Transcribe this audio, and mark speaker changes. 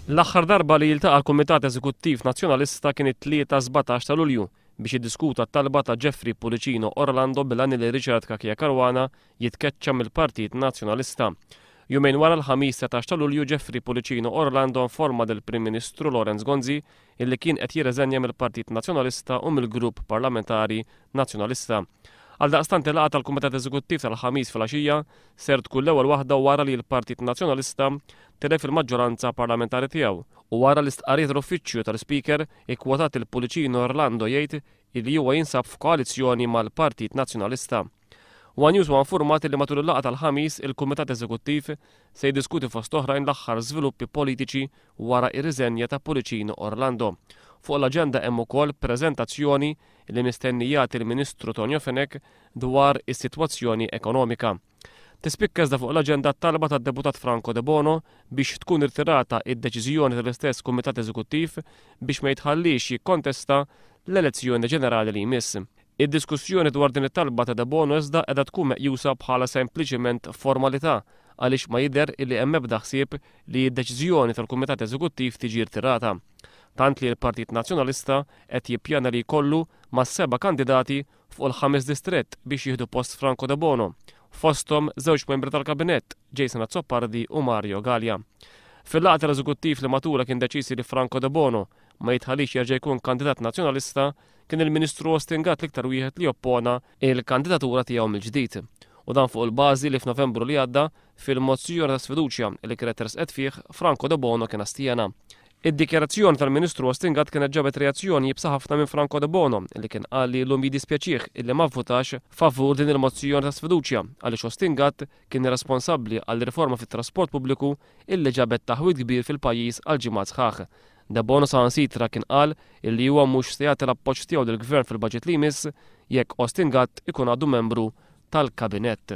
Speaker 1: L-aħħar darba li jiltaqa' l-Kumitat Eżekuttiv Nazzjonalista kien it-Tlieta 17 ta' Lulju biex jiddiskuta t-talba ta' Jeffrey Pullicino Orlando bil-għan li Richard Cachia Caruana jitkeċċa mill-Partit Nazzjonalista. Jumejn wara l-Ħamis 19 ta' Lulju Jeffrey Pullicino Orlando informa lill-Prim Ministru Lawrence Gonzi illi kien qed jirreżenja mill-Partit Nazzjonalista u mill-Grupp Parlamentari Nazzjonalista. Għaldaqstant il-laqgħa tal-Kumitat Eżekuttiv tal-Ħamis filgħaxija ser tkun l-ewwel waħda wara li l-Partit Nazzjonalista tilef il-maġġoranza parlamentari tiegħu u wara li stqarrija tal-Uffiċċju tal-Ispeaker ikkwotat lill-Pullicino Orlando jgħid illi huwa jinsab f'koalizzjoni mal-Partit Nazzjonalista. One News huwa infurmat li matul il-laqgħa tal-Ħamis il-Kumitat Eżekuttiv se jiddiskuti fost oħrajn l-aħħar żviluppi politiċi wara r-riżenja ta' Pullicino Orlando. Fuq l-aġenda hemm ukoll preżentazzjoni li mistenni jagħti l-Ministru Tonio Fenech dwar is-sitwazzjoni ekonomika. Tispikka iżda fuq l-aġenda t-talba tad-Deputat Franco Debono biex tkun irtirata id-deċiżjoni tal-istess Kumitat Eżekuttiv biex ma jitħalliex jikkontesta l-elezzjoni ġenerali li jmiss. Id-diskussjoni dwar din it-talba ta' Debono iżda qiegħda tkun meqjusa bħala sempliċiment formalità għaliex ma jidher illi hemm ebda ħsieb li d-deċiżjoni tal-Kumitat Eżekuttiv tiġi rtirata. Tant li l-Partit Nazzjonalista qed jippjana li jkollu ma' seba' kandidati fuq il-ħames distrett biex jieħdu post Franco Debono, fosthom żewġ membri tal-Kabinett, Jason Azzopardi u Mario Galea. Fil-laqgħa tal-Eżekuttiv li matulha kien deċiż li Franco Debono ma jitħallix jerġa' jkun kandidat Nazzjonalista, Kien il-Ministru Austin Gatt l-iktar wieħed li oppona l-kandidatura tiegħu mill-ġdid, u dan fuq il-bażi li f'Novembru li għadda, fil-mozzjoni ta' sfiduċja li kienet tressqet fih, Franco Debono kien astjena. Id-dikjarazzjoni tal-Ministru Austin Gatt kienet ġabet reazzjoni iebsa ħafna minn Franco Debono li kien qal li llum jiddispjaċih illi ma vvutax favur din il-mozzjoni ta' sfiduċja għaliex Austin Gatt kien irresponsabbli għal riforma fit-trasport pubbliku illi ġabet taħwid kbir fil-pajjiż għal ġimgħat sħaħ Debono saħansitra kien qal illi huwa mhux se jagħti l-appoġġ tiegħu lill-Gvern fil-Baġit li jmiss jekk Austin Gatt ikun għadu membru tal-Kabinett.